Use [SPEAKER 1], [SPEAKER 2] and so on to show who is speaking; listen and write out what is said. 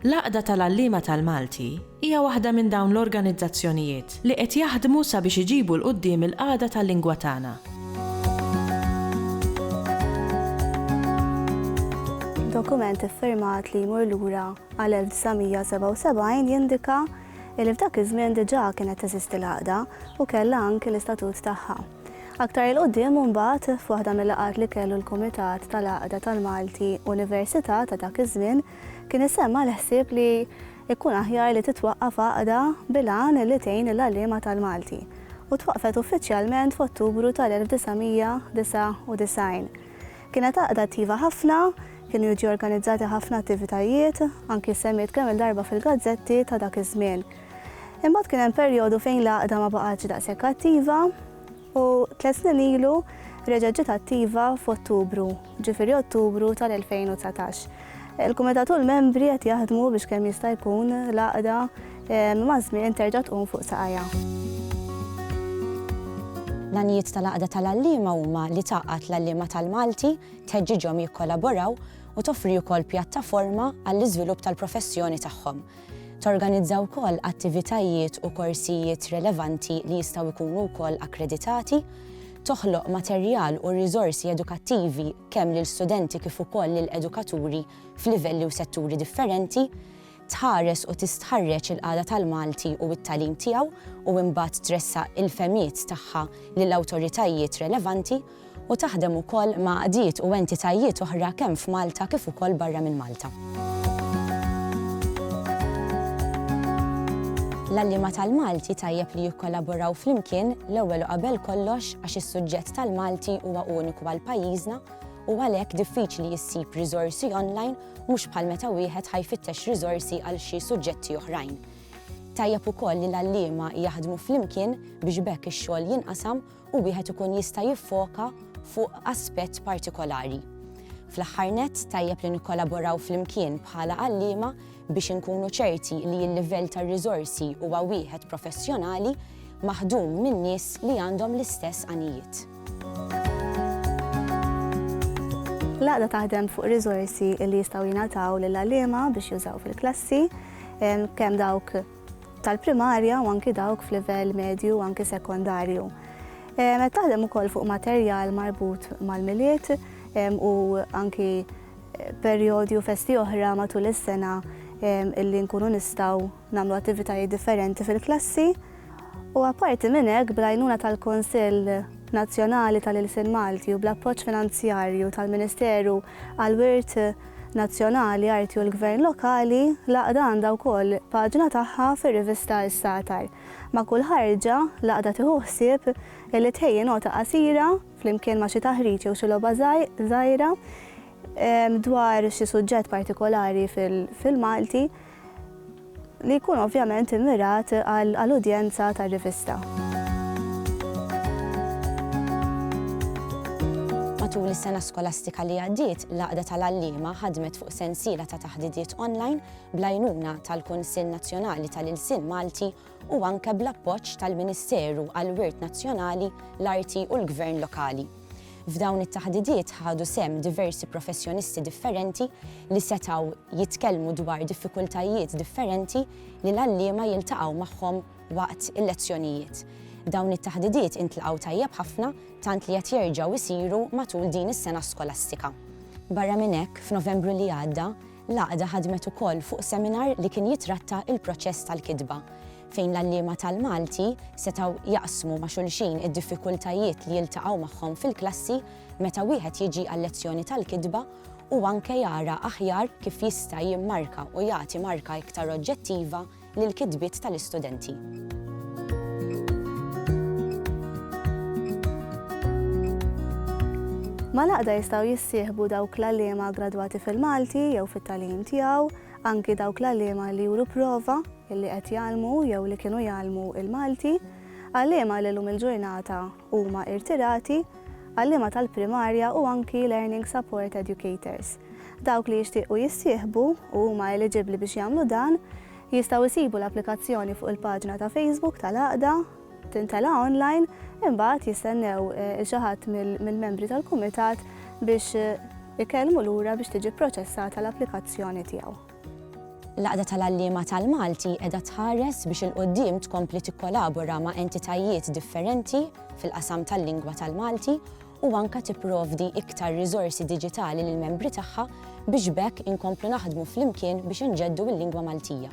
[SPEAKER 1] L-Għaqda tal-Għalliema tal-Malti hija waħda minn dawn l-organizzazzjonijiet li qed jaħdmu sabiex iġibu 'l quddiem il-qagħda tal-lingwa tagħna.
[SPEAKER 2] Dokument iffirmat li jmur lura għal 1977 jindika li f'dak iż-żmien diġà kienet teżisti l-Għaqda u kellha anki l-istatut tagħha. Aktar 'il quddiem imbagħad f'waħda mill-laqgħat li kellu l-Kumitat tal-Għaqda tal-Malti Università ta' dak iż-żmien, Kien issemma l-ħsieb li jkun aħjar li titwaqqaf għaqda bil-għan li tgħin lill-għalliema tal-Malti u twaqqfet uffiċjalment f'Ottubru tal-1999. Kienet għaqda attiva ħafna, kienu jiġu organizzati ħafna attivitajiet, anki ssemmiet kemm-il darba fil-gazzetti ta' dak iż-żmien. Imbagħad kien hemm perjodu fejn l-għaqda ma baqgħetx daqshekk attiva, U tliet snin ilu reġgħet ġiet attiva f'Ottubru, ġifieri Ottubru tal-2019. Il-Kumitat u l-membri qed jaħdmu biex kemm jista' jkun l-għaqda ehm, maż-żmien terġa' tqum fuq saqajha.
[SPEAKER 3] L-għanijiet tal-għaqda tal-għalliema huma li tgħaqqad l-għalliema tal-Malti, tħeġġiġhom jikkolaboraw u toffri wkoll pjattaforma għall-iżvilupp tal-professjoni tagħhom. Torganizza wkoll attivitajiet u korsijiet relevanti li jistgħu jkunu wkoll akkreditati, toħloq materjal u riżorsi edukattivi kemm lil studenti kif ukoll lil edukaturi f'livelli u setturi differenti, tħares u tistħarreġ il-qagħda tal-Malti u t-tagħlim tiegħu u imbagħad tressaq il-fehmiet tagħha lil awtoritajiet relevanti, u taħdem ukoll ma' għaqdiet u entitajiet oħra kemm f'Malta kif ukoll barra minn Malta. L-għalliema tal-Malti tajjeb li jikkollaboraw flimkien l-ewwel u qabel kollox għax is-suġġett tal-Malti huwa uniku għal pajjiżna u għalhekk diffiċli jissib riżorsi online mhux bħal meta wieħed ħajfittex riżorsi għal xi suġġetti oħrajn. Tajjeb ukoll li l-għalliema jaħdmu flimkien biex bekk ix-xogħol jinqasam u wieħed ikun jista' jiffoka fuq aspett partikolari. Fl-aħħar nett, tajjeb li nikkolaboraw flimkien bħala għalliema biex inkunu ċerti li l-livell tar-riżorsi huwa wieħed professjonali maħdum minn nies li għandhom l-istess għanijiet.
[SPEAKER 2] L-għaqda taħdem fuq riżorsi li jistgħu jingħataw lill-għalliema biex jużaw fil-klassi, kemm dawk tal-primarja u anki dawk f'livell medju u anki sekondarju. Qed taħdem ukoll fuq materjal marbut mal-Milied u anki perjodi u festi oħra matul is-sena illi nkunu nistgħu nagħmlu attivitajiet differenti fil-klassi. U apparti minn hekk, bl-għajnuna tal-Kunsill Nazzjonali tal-Ilsien Malti u bl-appoġġ finanzjarju tal-Ministeru għall-Wirt Nazzjonali, Arti u l-Gvern Lokali, l-Għaqda għandha wkoll paġna tagħha fir-rivista Is-Sagħtar. Ma' kull ħarġa, l-Għaqda tieħu ħsieb li tħejji nota qasira, flimkien ma' xi taħriġ jew xi logħba żgħira, dwar xi suġġett partikolari fil-Malti. li jkun ovvjament immirat għal udjenza tar-rivista.
[SPEAKER 3] Matul is-sena skolastika li għaddiet, l-Għaqda tal-Għalliema ħadmet fuq sensiela ta' taħdidiet online bl-għajnuna tal-Kunsill Nazzjonali tal-Ilsien Malti u anke bl-appoġġ tal-Ministeru għall-Wirt Nazzjonali, l-Arti u l-Gvern Lokali. F'dawn it-taħdidiet ħadu sehem diversi professjonisti differenti li setgħu jitkellmu dwar diffikultajiet differenti li l-għalliema jiltaqgħu magħhom waqt il-lezzjonijiet. Dawn it-taħdidiet intlaqgħu tajjeb ħafna tant li qed jerġgħu jsiru matul din is-sena skolastika. Barra minn hekk, f'Novembru li għadda, L-Għaqda ħadmet ukoll fuq seminar li kien jitratta l-proċess tal-kitba, fejn l-għalliema tal-Malti setgħu jaqsmu ma' xulxin id-diffikultajiet li jiltaqgħu magħhom fil-klassi meta wieħed jiġi għal-lezzjoni tal-kitba u anke jara aħjar kif jista' jimmarka u jagħti marka iktar oġġettiva lill-kitbiet tal-istudenti.
[SPEAKER 2] Mal-għaqda jistgħu jissieħbu dawk l-għalliema gradwati fil-Malti jew fit-tagħlim tiegħu, anki dawk l-għalliema li juru prova li qed jgħallmu jew li kienu jgħallmu l-Malti, għalliema li llum il-ġurnata huma irtirati, għalliema tal-primarja u anki learning support educators. Dawk li jixtiequ jissieħbu, u huma eliġibbli biex jagħmlu dan, jistgħu jsibu l-applikazzjoni fuq il-paġna ta' Facebook tal-Għaqda, tintela' online, imbagħad jistennew 'il xi ħadd mill-membri tal-Kumitat biex ikellmu lura biex tiġi pproċessata l-applikazzjoni tiegħu. L-Għaqda
[SPEAKER 3] tal-Għalliema tal-Malti qiegħda tħares biex 'il quddiem tkompli tikkolabora ma' entitajiet differenti fil-qasam tal-lingwa tal-Malti u anke tipprovdi iktar riżorsi diġitali lill-membri tagħha biex b'hekk inkomplu naħdmu flimkien biex inġeddu l-lingwa Maltija.